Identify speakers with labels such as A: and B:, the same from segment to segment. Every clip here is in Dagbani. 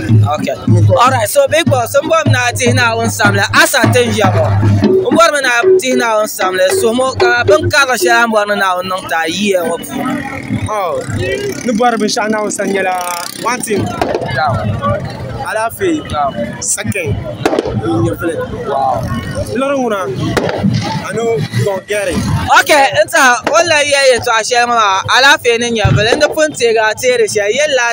A: Okay. All right. So big boss, n bɔri na tihi na o samla asa ti n yɛbo. N bɔri mi na tihi na o samla sumo ka bin karili shɛli n bɔri ni na o niŋ ta yiya ŋɔ puuni. Oh, ni bɔri binshaɣu na o san nyɛla one thing. Alaafee. Second. Nyɛvili. Lɔri ŋuna ani gɔŋ gɛri. Okay. N ta o la yɛ yɛtɔɣa shɛli ŋɔ maa alaafee ni nyɛvili n di pun teegi a teeri shɛli yɛli la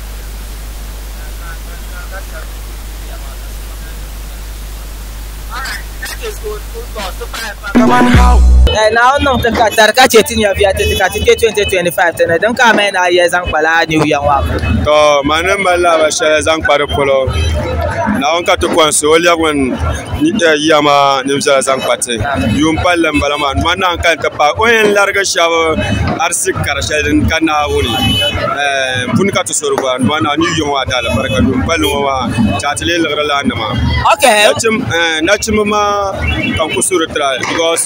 A: Naawuni niŋ ti ka dari ka chɛ ti nyɛviya ti ti ka ti kpɛ 2025 ti ni din ka amaya ni a yiya zaŋ kpa lala New Year ŋɔ abu. To ma ni
B: mali laaba shɛli zaŋ kpa di polo Naawuni ka ti kɔnsi o lɛbi ŋun yiya maa nim viɛla zaŋ kpa ti yuun palli n bala maa ŋmannaɣ n kani ti paai o ni yɛn larigi shɛba si kari shɛli din ka Naawuni puni ka ti sori gɔra ni maa ni yɔŋɔ a daala barika duu palli ŋɔ maa ka a ti lee liɣiri lana nima
C: nachimba
B: maa ka n ku suri tira because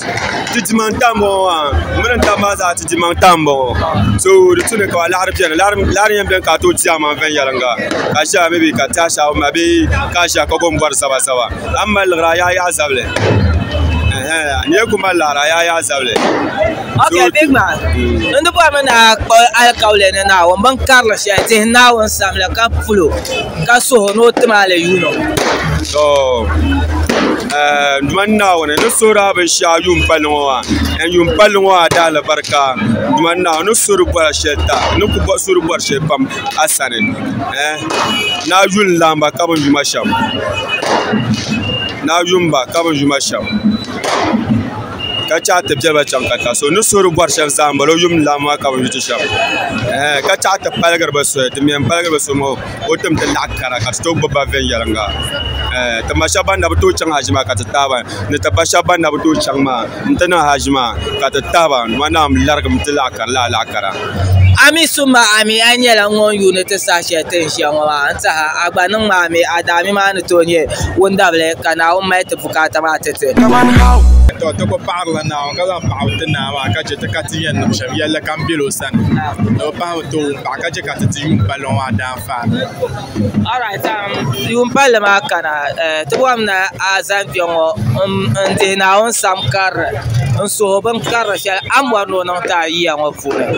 B: ti dimaŋ n tam ŋɔ maa n mini n taba maa zaa ti dimaŋ tam n bɔŋɔ so di tu ni ka laɣiri bɛni laɣiri yɛn bɛni ka a tooi ti zaŋ maŋ viɛnyɛliŋga ka shɛba mi bɛ ka ti ashaawumi maa bee ka ʒiya ka ku yɛn bɔri zaba zaba a ni mali liɣiri a yaa yaɣi zabili n yɛn ku mali liɣiri a yaa yaɣi zabili. Okay,
C: big man. N di bɔrimi ni a kpuɣi alikauli ni Naawuni bin karili shɛli tihi Naawuni samli ka pul o, ka suh o ni o tim a li yuuni o. To,
B: Duuma n Naawuni, n ni suhiri a binshɛɣu yuun palli ŋɔ maa, and yuun palli ŋɔ a daa alibarika. Duuma n Naawuni, n ni suhiri bɔra shɛli ta, n ni ku suhiri bɔri shɛli pam a sani. Eh, ni a yuli n-lahi ba ka bin yuma shɛm, ni a yuli m-ba ka bin yuma shɛm. ka chɛ ti biɛri ba chɛŋ katiŋa so ni so di bori shɛm zaa n bala o yuum ni lan maa ka bi yuui ti shɛm ka chɛ ti paligiri bi soli din mii yɛn paligi bi soli maa ka o tim ti naɣa kara ka ti tooi gbubi ba viɛnyɛlinga ti ma shab ban na bi tooi chɛŋ haʒi maa ka ti taba ni ti ba shab ban na bi tooi chɛŋ maa n ti niŋ haʒi maa ka ti taba dama naa n larigimi ti laɣa kari laa laɣa kara Ami summa
C: ami a nyɛla ŋun yuuni ti saha shɛli ti ni ʒiya ŋɔ maa n tiɛha a gba niŋmi ami a daami maa ni tooi nyɛ wundabili ka Naawuni mali ti bukaata maa ti ti. To ti
B: ku paɣirila Naawuni ka zaŋ paɣibu ti naa maa ka chɛ ti ka ti yɛn niŋ shɛm yɛlli kam bel o sani. Ni o pahimi ti wum paɣa ka chɛ ka ti ti yuun palli ŋɔ maa daanfaa. Alright,
C: um, yuun palli maa kana, eh, ti bɔhim ni a zani kpɛŋɔ n-dihi Naawuni sam karili
A: n-suhi o bin karili shɛli a ni bɔri ni o niŋ ti a yiya ŋɔ puuni.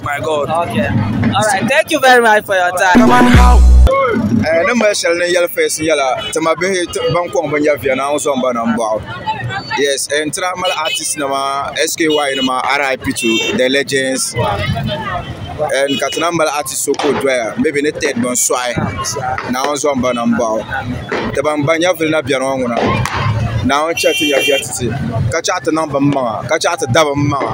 D: my god okay all right
A: thank you very much for your time
B: come on how eh ni mali shɛli ni yɛli fes nyɛla tima bihi ban kɔŋ bin yɛ viɛna n zɔn ba na n bɔɣu yes n tira mali artist nima sky nima rip to the legends and ka tina mali artist so ka o doya maybe ni ted bin sɔɣi na n zɔn ba na n bɔɣu ti ban ban nyɛ vili na biɛni ŋɔ ŋuna na n chɛ ti nyɛ viɛtiti ka chɛ ti niŋ bin maŋa ka chɛ ti da bin maŋa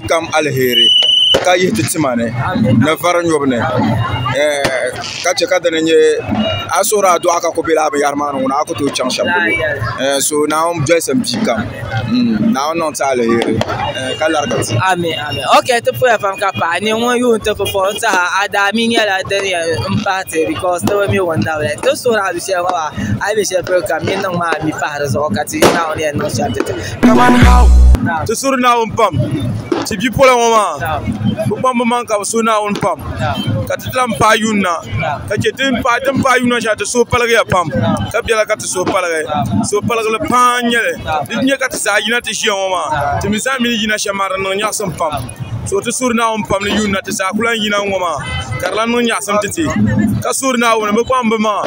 B: kam alheri ka yihi ti tima ni ni vari nyɔbu ni ka chɛ ka dini nyɛ a yi suhuri adua ka ku bɛ laa binyahari maa ni ŋuna a ku tooi chaŋ shɛm polo so naawuni dolisi n bia
A: kam naawuni niŋ ti alheri ka larigiri ti Kamani
E: hau, ti suhiri Naawuni pam, ti bipola ŋɔ maa bɛ kpaŋ bɛ maŋa ka bɛ suhi Naawuni pam ka ti lahi paai yuuni na ka chɛ ti ni paai yuuni na shɛli ti suhu paligiya pam ka biɛla ka ti suhu paligi suhupaligili paa n-nyɛ li di ni nyɛ ka ti zaa yina ti ʒiya ŋɔ maa ti mi zaa mi ni yina shɛm maa di niŋ nyaɣisim pam so ti suhiri Naawuni pam ni yuuni na ti zaa ku lahi yina ŋ-ŋɔ maa ka di lahi niŋ nyaɣisim titi ka suhiri Naawuni bɛ kpaŋ bɛ maŋa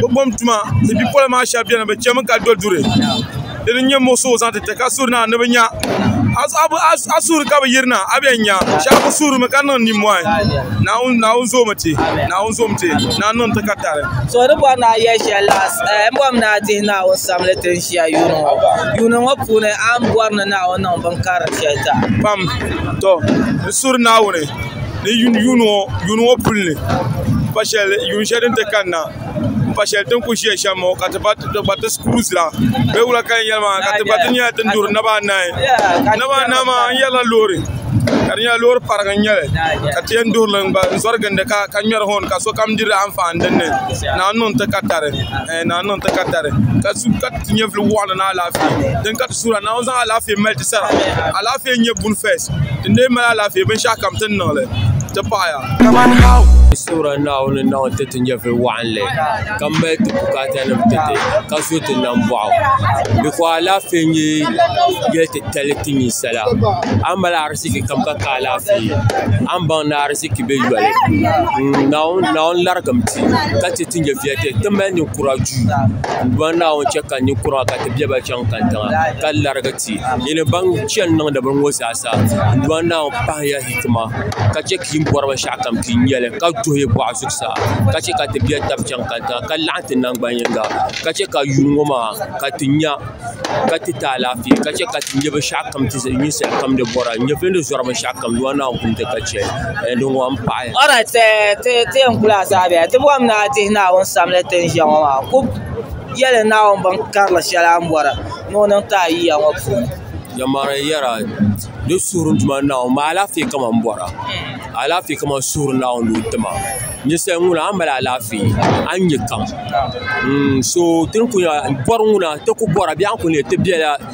E: bɛ gom tuma ti bipola maa shɛba beni bɛ chɛmi ka do duri di ni nyɛ muɣisi o zaŋ ti ti ka suri na ni bɛ nya a suri ka bɛ yirina a bɛn nya shɛba kuli surimi ka niŋ nimmɔhi Naawuni zoomi ti Naawuni zoomi ti ni a niŋ ti ka tali so di bɔri ni a
A: yɛli shɛli la m bɔri mi ni a dihi Naawuni sabinli ti n ʒiya yuuni ŋɔ yuuni ŋɔ puuni a ni bɔri ni Naawuni niŋ binkarili shɛli zaa pam
E: tɔ n suri Naawuni ni yuuni ŋɔ puli ni pa shɛli yuun shɛli din ti kanna n pa shɛli din ku ʒiya shɛm ŋɔ ka ti gbariti shikuru zila bee wula ka di nyɛli maa ka ti gbariti nyɛla din duri naba anahi naba anahi maa n yɛrila loori ka di nyɛla loori parigi n nyɛli ka ti yɛn duɣuri li gba n zori gindi ka ŋmɛri hɔn ka sokam diri anfaani dinni naa n niŋ ti ka tari ka ti nyɛvili waɣanli ni alaafee Sura Naawuni zaŋ alaafee mali ti sara. Alaafee n-nyɛ buni first. Ti ni lee mali alaafee binshɛɣu kam ti ni niŋli ti paɣiya. Kamani how?
F: Sura Naawuni niŋ ti ti nyɛvili waɣinli ka mali ti bukaatanim ti ti ka zo ti nambɔɣu. Before alaafee n-nyɛ yɛli titali ti ninsala. A ni mali ariziki kam ka ka alaafee, a ni baŋ ni ariziki be yoli. Naawuni larigimi ti ka chɛ ti nyɛviya ti ti mali ninkura duu n-bɔri Naawuni chɛ ka ninkura maa ka ti be ba chaŋ. ka larigi ti yi ni baŋ chɛni niŋdi bini ŋɔ zaa sa Duuma Naawuni pahila hikima ka chɛ ka yi ni bɔri binshɛɣu kam ti nya li ka duhi yi bɔɣu zuɣusaa ka chɛ ka ti biɛri taba chɛŋ katiŋa ka laɣam ti nangbani yinga ka chɛ ka yuun ŋɔ maa ka ti nya ka ti ti alaafee ka chɛ ka ti nyɛ binshaɣu kam ninsal kam ni bɔra n nyɛ bini ni zɔri binshɛɣu kam Duuma Naawuni pun di ka chɛ din ŋɔ n
A: paɣi Yɛli Naawuni bin karili shɛli a ni bɔri ni o
F: niŋ
A: ti a yiya ŋɔ puuni. Yɛlimaŋli yɛra di
F: suhuri Duuma Naawuni maa alaafee kama m-bɔra alaafee kama suhuri Naawuni ni o ti ma ninsal ŋuna a ni mali alaafee a ni nya kam n-so ti ni kuli bɔri ŋuna ti ku bɔra bee a ni kuli nya ti bela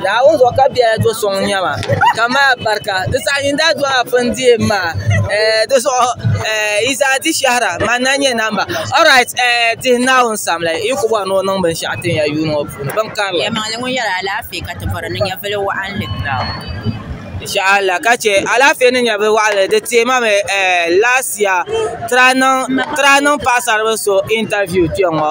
A: Naawuni zuɣu ka biɛla do so ŋun nyɛma ka mali alibarika di zaɣa yini daa dola bini dihibu maa dizuɣu Yizaa di shehira manna n nyɛ namba orit dihi naawuni samli n kuli bori ni o niŋ binshaɣu tin ya yuuni ŋɔ puuni bin
G: karili insha
A: Allah ka che alaafee ni nyɛvili waɣinli di teemi mi last year ti daa niŋ paɣasaribila so intaviu kpeŋɔ.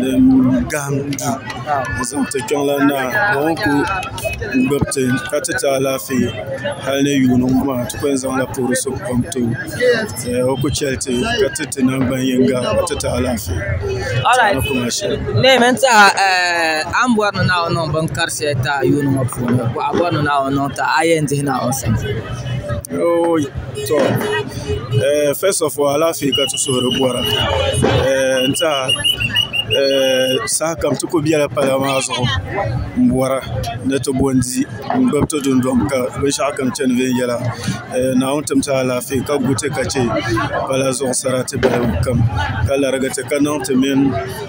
E: din gahim du n-zaŋ ti Kpiɔŋlan Naa ka o kuli gbubi ti ka ti ti alaafee hali ni yuuni ŋɔ maa ti kuli zaŋla puhiri suŋ kom ti o ka o kuli cheli ti ka ti ti nangban yiŋga ka ti ti alaafee
A: ni kuma sheli.
E: To eh first of all alaafee ka ti suhuri bɔra eh n tiɛha eh saha kam ti ku biɛla pala maa zuɣu n bɔra ni ti bo n di n gbubi ti dundɔŋ ka binshɛɣu kam chani viɛnyɛla eh Naawuni tim ti alaafee ka gu ti ka chɛ pala zuɣu sarati balibu kam ka larigi ti ka niŋ ti mini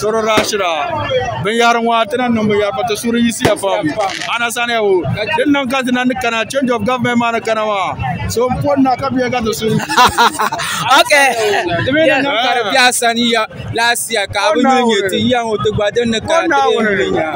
E: soro daa shira binyɛri ŋɔ ti na niŋ binyɛri pa ti suhuri yisiya pam anasani ya wo din niŋ ka dina ni kana change of government maa ni kana maa so n poni na ka biɛ ka ti suhuri ok
A: ti mi ni niŋ ka di biɛha sani
H: ya laasiya ka bi ni nyɛ ti yiya ŋɔ ti gba din ni kana ti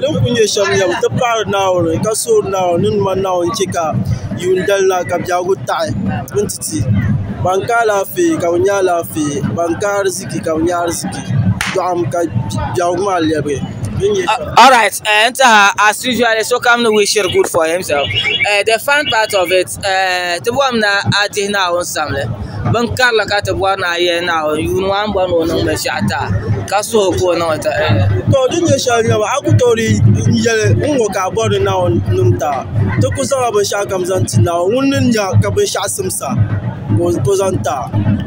I: din kul nyɛ shɛm yɛm ti paai Naawuni ka soori Naawuni ni ŋman Naawuni chɛ ka yuun dali na ka biɛhigu taɣi n ti ti ban ka alaafee ka bɛ nya alaafee ban ka ariziki ka bɛ nya ariziki dɔɣim ka
A: biɛhigu maa lɛbigi Ti bɔhim ni a dihi Naawuni sabili bin karili ka ti bɔri ni a yɛli Naawuni yuuni maa ni bɔri ni o niŋ binshɛɣu ti a ka suhi ka o niŋ ti a. Tɔ! Din nyɛ
I: shɛli n-nyɛba a ku tooi di yɛli n ŋɔ ka a bɔri ni Naawuni niŋ ti a. Ti ku zaŋla binshɛɣukam zaŋ ti Naawuni ŋun ni nya ka binshɛɣu simsa ka o zaŋ ti a.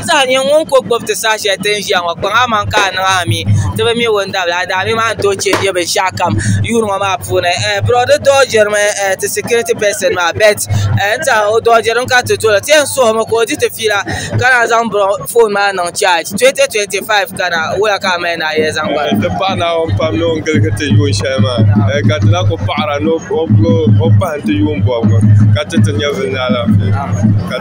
J: Saha nyini ŋun
A: ko gbubi ti saha shɛli ti ni ʒiya ŋɔ kpaŋ aman ka a niŋ a mi ti bi mi wundabila a daa mi maa ni tooi chɛ bɛ binshɛɣu kam yuuri ŋɔ maa puuni bro di dooʒirimi ti sikiriti pɛsin maa bɛt n tɛha o dooʒirimi ka ti toli ti yɛn suhimi ka o di ti fiila ka naan zaŋ bro foon maa niŋ chaaj 2025 kana wuhiya ka a mali ni a yɛli zaŋ gari n ti pahi Naawuni pam
B: ni o ni giligi ti yuun shɛli maa ka di lahi ku paɣira ni o pahim ti yuun bɔbigu ka ti ti nyɛvili ni alaafee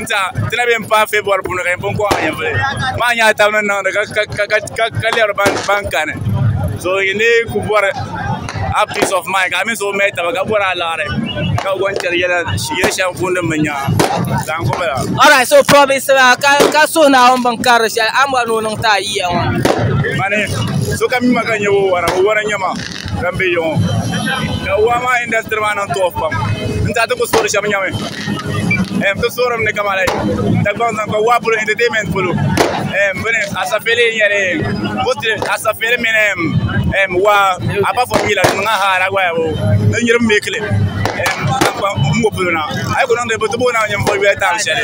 K: ti na bɛ n paai fɛbɔri puuni ka yɛn pun kɔŋ ayavuli maa nyɛla tab ni niŋdi ka lɛri ban kani so yi ni ku bɔri a piis of main ka a mini so mali taba ka bɔri alaɣiri ka bi zaŋ chɛri yɛli shɛli pun niŋ bi nyaanga ka n gbubi la Alright, so province
A: la ka ka so na on bin karili shɛli a mɔri ni o niŋ ti a yiya ŋɔ. mani
K: sokam mi ma ka n nyɛ o wara o wara n nyɛ ma ka n bɛ yiŋɔ ka waa maa indasitiri maa niŋ tuɣi pam n tiɛha ti ku soori shɛm nyɛmi n ti soori mi ni kamani Dagbaŋ zaŋ kpa waa polo ɛntɛtɛmɛnt polo bini asapeli n nyɛli asapeli mini waa apa fɔr mi la di niŋla haad a waya boo n niriba n bɛ kili n ŋɔ polo na a yi ku niŋ di bi ti booi naai ninvuɣ yoli taali shɛli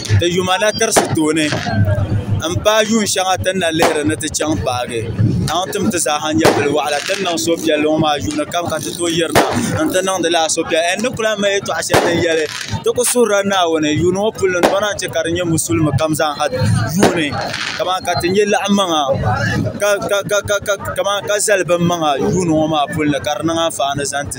I: di yuma na tirisi tooni n paai yuun shɛŋa ti ni na lihiri ni ti chaŋ paagi ka ŋun tum ti zaaha nyɛ bili waɣala ti ni niŋ suhupiɛlli ŋɔ maa yuuni kam ka ti tooi yirina n ti niŋdi lala suhupiɛlli n ni ku lahi mali yɛltɔɣa shɛli din yɛli ti ku suhurila Naawuni yuuni ŋɔ puli ni bana chɛ ka di nyɛ musulin kam zaaha yuuni kamani ka ti nyɛ laɣamaŋa ka zali binmaŋa yuuni ŋɔ maa puuni ka di niŋ anfaani zaŋ ti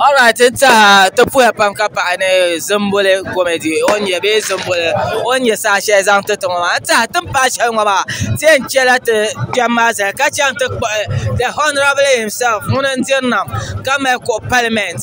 I: Alright n tiɛha ti
A: puya pam ka paɣi ni zumbuli komidi o ni nyɛ bee zumbuli o ni nyɛ saha shɛli zaŋ titɔ ŋɔ maa n tiɛha tini paai shɛli ŋɔ maa ti yɛn chɛla ti kpɛm maa zali ka chɛŋ ti kpuɣi the honourable himself ŋuni n diri nam ka mali kuɣu paliment